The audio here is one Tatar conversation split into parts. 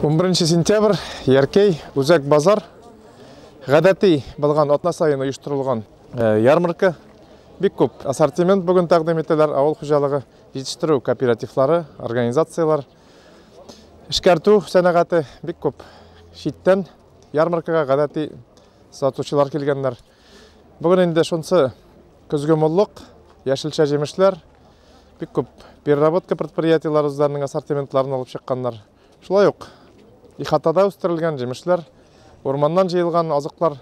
11 сентябрь Яркей үзәк базар гадәти булган атна саен оештырылган э, ярмарка бик күп ассортимент бүген тәкъдим ителәр авыл хуҗалыгы җитештерү кооперативлары организацияләр эшкәртү сәнәгате бик күп читтән ярмаркага гадәти сатучылар килгәннәр Бүген инде шунсы көзге моллык, яшелчә җимешләр, бик күп переработка предприятиеләре үзләренең ассортиментларын алып чыкканнар. Шулай ук ихатада үстерелгән җимешләр, урманнан җыелган азыклар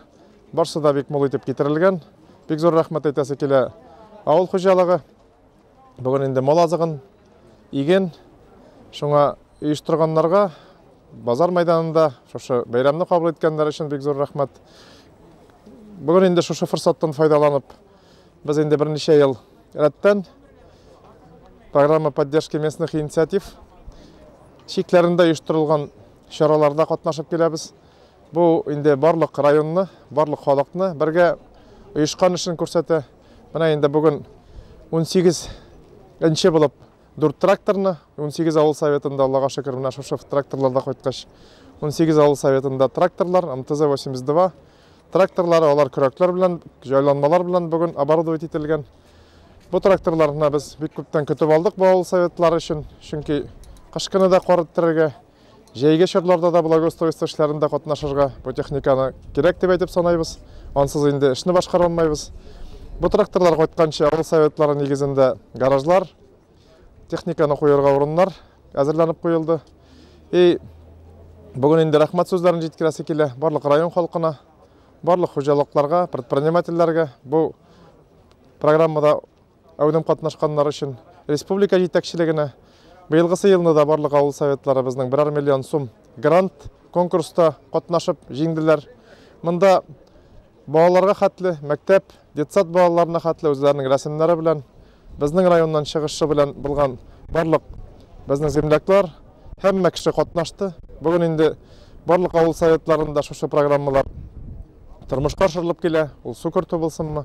барсы да бик мул итеп китерелгән. Бик зур рәхмәт әйтәсе килә авыл хуҗалыгы Бүген инде мал азыгын иген шуңа оештырганнарга базар мәйданында шушы бәйрәмне кабул иткәннәр өчен бик зур рәхмәт. Бүген инде шушы форсаттан файдаланып, без инде берничә ел рәттән программа поддержки местных инициатив чикләрендә оештырылган чараларда катнашып киләбез. Бу инде барлык районны, барлык халыкны бергә оешкан эшен күрсәтә. Менә инде бүген 18 нче булып дүрт тракторны 18 авыл советында аллага шөкер менә шушы тракторларда кайткач 18 авыл советында тракторлар мтз 82 тракторлары алар көрәкләр белән җайланмалар белән бүген оборудовать ителгән бу тракторларны без бик күптән көтеп алдык бу авыл советлары өчен чөнки кышкыны да кар иттерергә Җәйге чорларда да благоустройство эшләрендә катнашырга бу техниканы кирәк дип әйтеп санайбыз. Ансыз инде эшне башкара алмыйбыз. Бу тракторлар кайтканчы авыл советлары нигезендә гаражлар, техниканы куярга урыннар әзерләнеп куелды. И бүген инде рәхмәт сүзләрен җиткерәсе килә барлык район халкына, барлык хуҗалыкларга, предпринимательләргә бу программада Әудем катнашканнар өчен республика җитәкчелегенә быелгысы елны да барлык авыл советларыбызның берәр миллион сум грант конкурста катнашып җиңделәр. Монда балаларга хәтле, мәктәп, детсад балаларына хәтле үзләренең рәсемнәре белән, безнең районнан чыгышы белән булган барлык безнең земляклар, һәммә кеше катнашты. Бүген инде барлык авыл советларында шушы программалар тормышка ашырылып килә. Ул су кертү булсынмы,